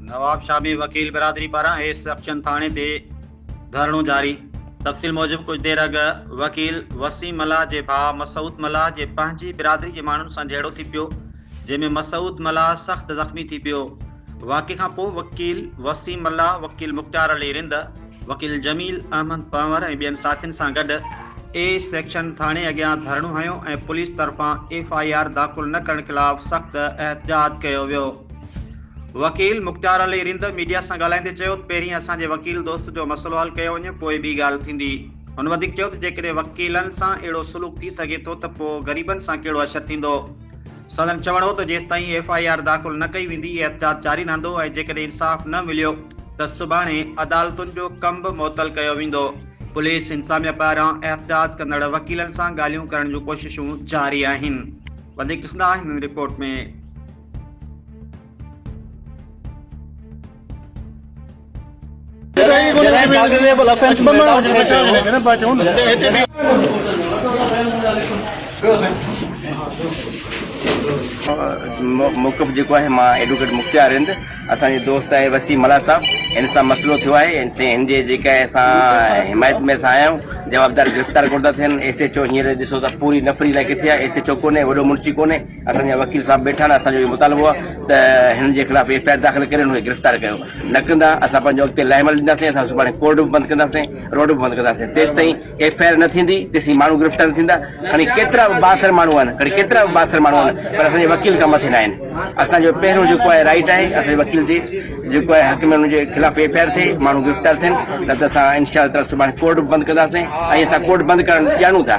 نواب شاهه ۾ وڪيل برادري پاران ايس سڪشن ٿاڻي تي ڌرڻو جاري، تفصيل موجب ڪجهه دير اڳ وڪيل وسيم ملاح جي ڀاء مسعود ملاح جي پنهنجي برادري جي ماڻهن سان جهيڙو ٿي پيو جنهن ۾ مسعود ملاح سخت زخمي ٿي پيو واقعي کان پوء وڪيل وسيم ملاح وڪيل مختيار علي رند وڪيل جميل احمد پنور ۽ ٻين ساٿين سان گڏ اي سيڪشن ٿاڻي اڳيان ڌرڻو هنيو ۽ پوليس طرفان ايف آء آر داخل نه ڪرڻ خلاف سخت احتجاج ڪيو ويو. وڪيل مختيار علي رند ميڊيا سان ڳالهائيندي چيو ته پهرين اسان جي وڪيل دوست جو مسئلو حل ڪيو وڃي پوء ٻي ڳالهه ٿيندي. هن وڌيڪ چيو ته جيڪڏهن وڪيلن سان اهڙو سلوڪ ٿي سگهي ٿو ته پوء غريبن سان ڪهڙو حشر ٿيندو. سندن چوڻ هو ته جيستائين ايف آء آر داخل نه ڪئي ويندي احتجاج جاري رهندو ۽ جيڪڏهن انصاف نه مليو ته سڀاڻي عدالتن جو ڪم به معطل ڪيو ويندو. پوليس انتظاميا پاران احتجاج ڪندڙ وڪيلن سان ڳالهيون ڪرڻ جون ڪوششون جاري آهن. وڌيڪ ڏسندا آهن ان رپورٽ ۾. موقف جيڪو آهي مان ايڊوڪيٽ مختيار رند اسان جي دوست آهي وسيم ملاح صاحب ان سان مسئلو ٿيو آهي ان سي ان جي جيڪا اسان حمايت ۾ اسان آيا آهيون جوابدار گرفتار ڪونه ٿا ٿين ايس ايچ او هينئر ڏسو ته پوري نفري لاء ڪٿي آهي ايس ايچ او ڪونهي وڏو منشي ڪونهي اسان جا وڪيل صاحب بيٺا آهن، اسان جو اهو مطالبو آهي ته هنن جي خلاف ايف آء آر داخل ڪري هنن کي گرفتار ڪيو، نه ڪندا اسان پنهنجو اڳتي لاهي عمل ڏينداسين، اسان سڀاڻي ڪورٽ به بند ڪنداسين، روڊ به بند ڪنداسين، تيستائين ايف آء آر نه ٿيندي تيسين ماڻهو گرفتار نه ٿيندا، کڻي ڪيترا به بااثر ماڻهو آهن، کڻي ڪيترا به بااثر ماڻهو آهن پر اسان جي وڪيل کان مٿي ناهن، اسان جو پهريون جيڪو آهي رائيٽ آهي اسان جي وڪيل جي جيڪو آهي حق ۾ هنن جي خلاف ايف آء آر ٿئي ماڻهو گرفتار ٿين نه ته اسان انشاء الله تعالي سڀاڻي ڪورٽ به بند ڪنداسين ۽ اسان ڪورٽ بند ڪرڻ ڄاڻون ٿا.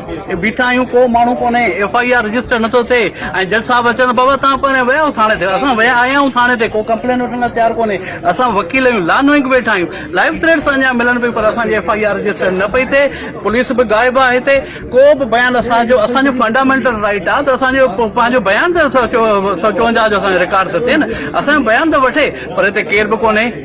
بيٺا آهيون ڪو ماڻهو ڪونهي ايف آء آر رجسٽر نٿو ٿئي ۽ جج صاحب اچن ته بابا تان پهرين ويا آهيو ٿاڻي تي اسان ويا آيا آهيون ٿاڻي تي ڪو ڪمپلين وٺڻ لاء تيار ڪونهي اسان وڪيل آهيون لا نوئنگ ويٺا آهيون لائف ٿريٽس اڃا ملن پيون پر اسان جي ايف آء آر رجسٽر نه پئي ٿئي پوليس به غائب آهي هتي ڪو به بيان اسان جو اسان جو فنڊامينٽل رائيٽ آهي ته اسان جو پنهنجو بيان ته سؤ چونجاهه جو اسان جو رڪارڊ ته ٿئي نه اسان جو بيان ته وٺي پر هتي ڪير به ڪونهي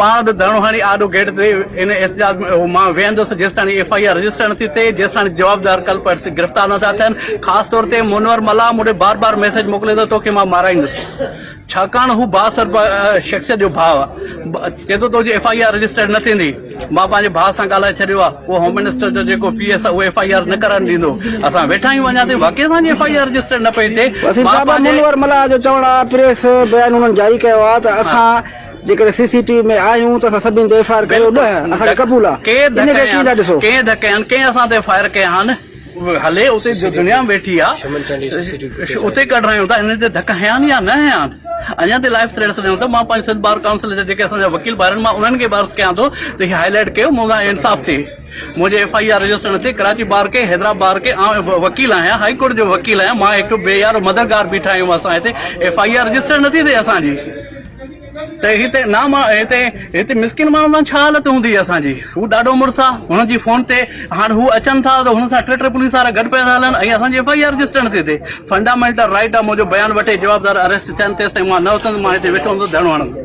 پاڻ به ڌرڻو هڻي آڏو گيٽ تي ان احتجاج ۾ اهو مان ويهندس جيستائين ايف آء آر رجسٽر نٿي ٿئي جيستائين جوابدار ڪلپرٽس گرفتار نٿا ٿين خاص طور تي منور ملاح مون ڏي بار بار ميسيج موڪلي ٿو توکي مان مارائيندس ڇاڪاڻ هو بااثر شخصيت جو ڀاء چي ٿو تنهنجي ايف آء آر رجسٽر نه ٿيندي مان پنهنجي ڀاء سان ڳالهائي ڇڏيو آ اهو هوم منسٽر جو جيڪو پي ايس آ اهو ايف آء آر نه ڪرڻ ڏيندو اسان ويٺا آهيون اڃا تائين واقعي اسان جي ايف آء آر رجسٽر نه پئي ٿئي منور ملاح جو چوڻ آ پريس بيان انهن جاري ڪيو آ ته اسان جيڪڏهن سي سي ٽي وي ۾ آهيون ته اسان سڀني تي ايف آء آر ڪريو نه اسان کي قبول آ ان کي ڪيئن ٿا ڏسو. ڪنهن ڌڪي هان ڪنهن اسان تي فائر ڪئي هان هلي اتي جو دنيا ويٺي آ اتي ڪڍرايون ٿا انهن تي ڌڪ هنيا آهن يا نه هنيا آهن اڃان تائين لائف ٿريٽس ڏيون ٿا مان پنهنجي سنڌ بار ڪائونسل جا جيڪي اسان جا وڪيل ڀائر آهن مان انهن کي به عرض ڪيان ٿو ته هي هائي لائيٽ ڪيو مون سان انصاف ٿئي منهنجي ايف آء آر رجسٽر نه ٿئي ڪراچي بار کي حيدرآباد بار کي آئون وڪيل آهيان هائي ڪورٽ جو وڪيل آهيان مان هڪ بي يار مددگار بيٺا آهيون اسان هتي ايف آء آر رجسٽر نه ٿي ٿئي اسان جي ته هتي نا هتي هتي مسڪين ماڻهن سان ڇا حالت هوندي اسان جي هو ڏاڍو مڙس آ هن جي فون تي هاڻ هو اچن ٿا ته هن سان ٽي ٽي پوليس وارا گڏ پيا ٿا هلن ۽ اسان جي ايف آء آر رجسٽر نٿي ٿئي فنڊامينٽل رائيٽ آ منهنجو بيان وٺي جوابدار اريسٽ ٿين تيس تائين مان نه اٿندس مان هتي ويٺو هوندس ڌرڻو هڻندس